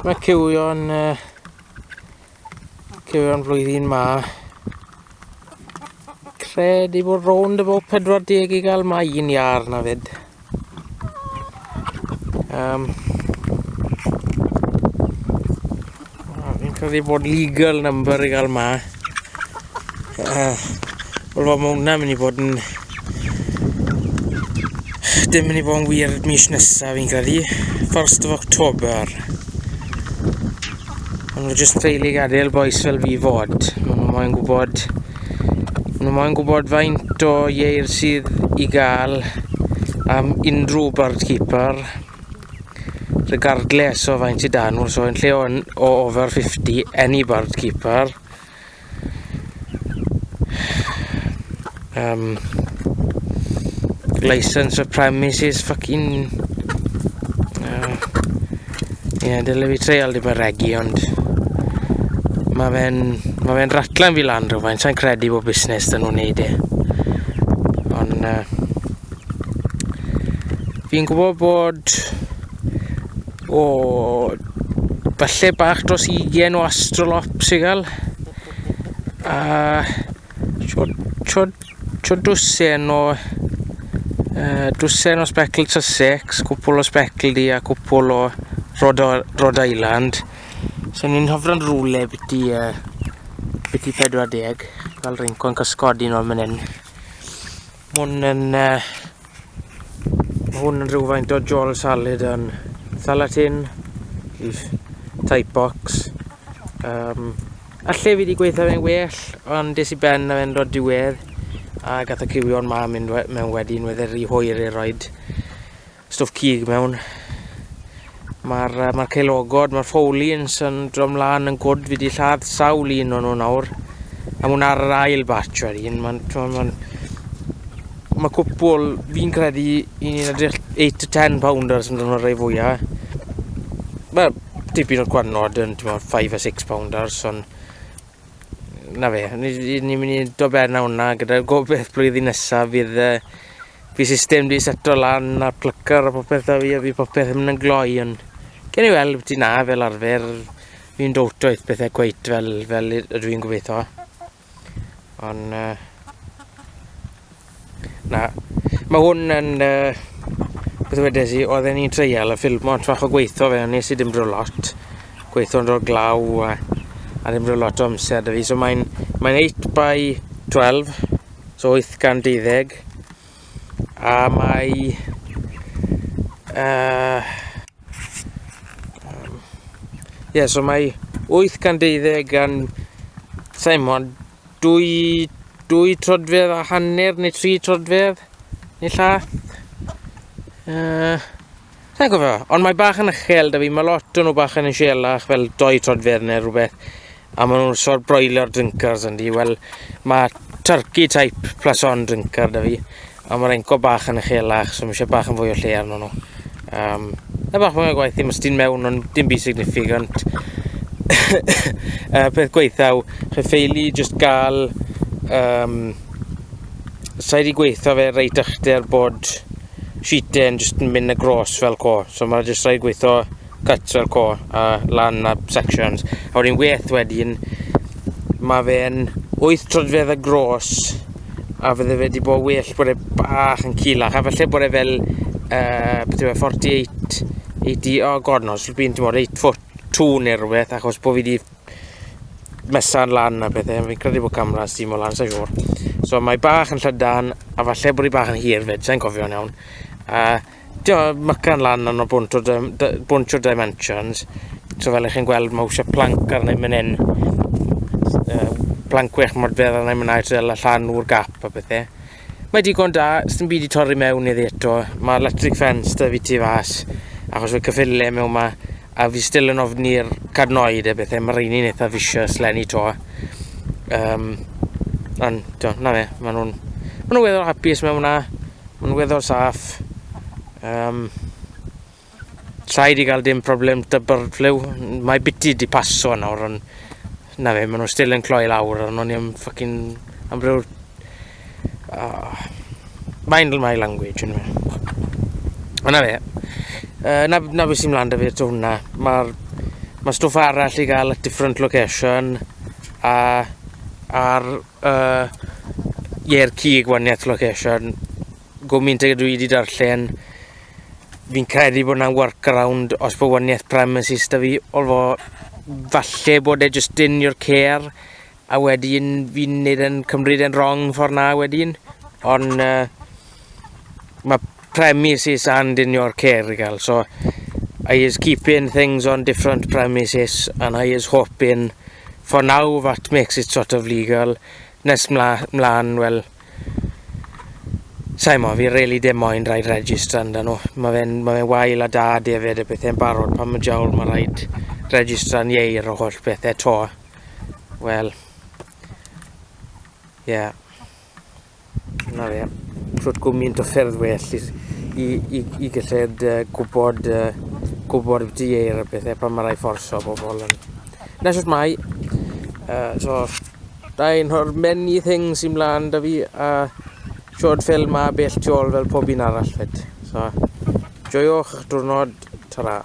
Mae cywio'n uh, cywio'n flwyddyn ma. Credu bod rownd y bod 40 i gael mae un iar na fyd. Um, Oh, fi'n credu bod legal number i gael ma. Uh, Wel, mae hwnna'n mynd i bod yn... Dim mynd i bod yn wir mis nesaf fi'n credu. 1st of October. Ond nhw jyst treulu gadael boes fel fi fod. Maen nhw moyn gwybod... Maen nhw moyn gwybod faint o ieir sydd i gael am unrhyw bird keeper. Regardless o faint i dan nhw, so yn lle o'n o over 50, any bird keeper. Um, license of premises, fucking... Uh, yeah, dyle fi treial ddim yn regi, ond... Mae fe'n ma fe ratlan fi lan rhywfaint, sa'n credu bod busnes dyn nhw'n neud e. Ond... Uh, Fi'n gwybod bod... O... Falle bach dros ugen o astrolops i gael. A... Chod... Chod... Chod dwsen o... Uh, dwsen o specl Sussex, cwpl o specl di a cwpl o Rhode, Rhode Island. So ni'n hofran rwle byti... Uh, byti 40, fel rhywun cwrdd cysgod un o'r mynd hyn. Hwn yn... Uh, mae hwn yn rhywfaint o jol salad yn thalatin, leaf, type box. Um, Alle fi wedi gweithio fe'n well, ond des i ben na fe'n dod diwedd, a gath y cywio'n ma mynd mewn wedyn, wedd e'r rhy hwyr i'r roed. Stwff cig mewn. Mae'r uh, ma ceilogod, mae'r ffowlins yn drom lan yn gwrdd. Fi wedi lladd sawl un o'n nhw nawr. A mwyn ar yr ail batch ar un. Mae'n... Ma mae cwpwl, fi'n credu, un yn edrych 8 to 10 pounders yn dod o'r rei fwyaf. Mae tipyn o'r gwanod yn 5 a 6 pounders, ond na fe, ni'n mynd i do ben hwnna gyda'r gobeith blwyddyn nesaf fydd uh, Fi system di seto lan a plycar a popeth da fi a fi popeth yn mynd yn gloi ond gen i weld beth na fel arfer fi'n dowto eith bethau cweit fel, fel ydw i'n gobeithio ond uh, na mae hwn yn uh, beth wedes i oedd e'n i'n treial y ffilm ond fach o gweithio fe nes i dim bro lot gweithio'n dro glaw a, a dim bro lot o amser da fi so mae'n mae 8 by 12 So 820 a mae uh, um, yeah, so mae 820 gan Simon dwy, dwy trodfedd a hanner neu tri trodfedd neu llath uh, Sa i'n gwybod, ond mae bach yn uchel 'da fi, mae lot o nhw bach yn usielach fel doi troedfedd neu rhywbeth, a maen nhw'n sort broiler drinkers yndi, wel mae turkey type plason drinker 'da fi, a mae'r enco bach yn uchelach, so mae eisiau bach yn fwy o lle arno nhw. Um, na bach mwy o gwaith ddim ystyn mewn, ond dim byd significant. uh, peth gweithau, chi ffeili just gael... Um, Sa'i wedi gweithio fe reit ychydig bod sheet e'n jyst yn mynd across fel co. So mae jyst rhaid gweithio cuts fel co a lan a sections. A wedyn weith wedyn, mae fe'n 8 trodfedd y gros a fydde fe wedi bod well bod e bach yn cilach a felly bod e fel uh, beth yw e, 48 80, oh god no, so byn ti'n bod 8 foot 2 neu rhywbeth achos bod fi wedi mesan lan a bethau, fi'n credu bod camera yn simo lan, sa'n siŵr. So mae bach yn llydan, a falle bod hi bach yn hir fyd, sa'n cofio'n iawn. A dio, mycan lan yn o bwnt o, bwnt o dimensions, so fel ych chi'n gweld mae eisiau planc arna i mynd hyn. planc wych mor beth arna i mynd i'r llan o'r gap a bethau. Mae digon da, sy'n byd i torri mewn iddi eto. Mae electric fence da fi tu fas, achos fe cyffile mewn ma, a fi still yn ofni'r cadnoed a bethau, mae rheini'n eitha vicious lenni to. Um, ond, do, na fe, maen nhw'n ma nhw weddol hapus mewn hwnna, maen nhw'n weddol saff. Um, Rhaid i gael dim problem dy bird flu. Mae biti di paso nawr, ond na fe, maen nhw still yn cloi lawr, ond o'n i am ffocin am ryw... Oh. Mind my language, yn yma. Ond na fe, uh, na, na beth sy'n mlaen da fi eto hwnna. Mae'r ma stwff arall i gael at different location, a ar uh, Ier Cig waniaeth location, Gwmynt ag dwi wedi darllen, fi'n credu bod yna workaround os bod waniaeth premises da fi, olfo falle bod e just in your care, a wedyn fi'n neud yn cymryd e'n wrong ffordd na wedyn, ond uh, mae premises and in your care i gael, so I is keeping things on different premises and I is hoping for now that makes it sort of legal. Nes mla, mlaen, wel, Sai mo, fi rili dim moyn rhaid registr anda nhw. Mae fe'n ma fe wael a da defaid y pethau'n barod pan mae jawl mae rhaid registra'n ieir o holl pethau to. Wel, ie. Yeah. Na fe, trwy'r gwmynt o ffyrdd well i, i, i, i gyllid uh, gwybod, uh, gwybod beth ieir y pethau pan mae rhaid fforso bobl yn. Na, jyst mai. Uh, so, Dyna nhw'r many things sy'n mlaen da fi a siod ffilm a bell tu ôl fel pob un arall fyd. So, joiwch diwrnod, ta-ra.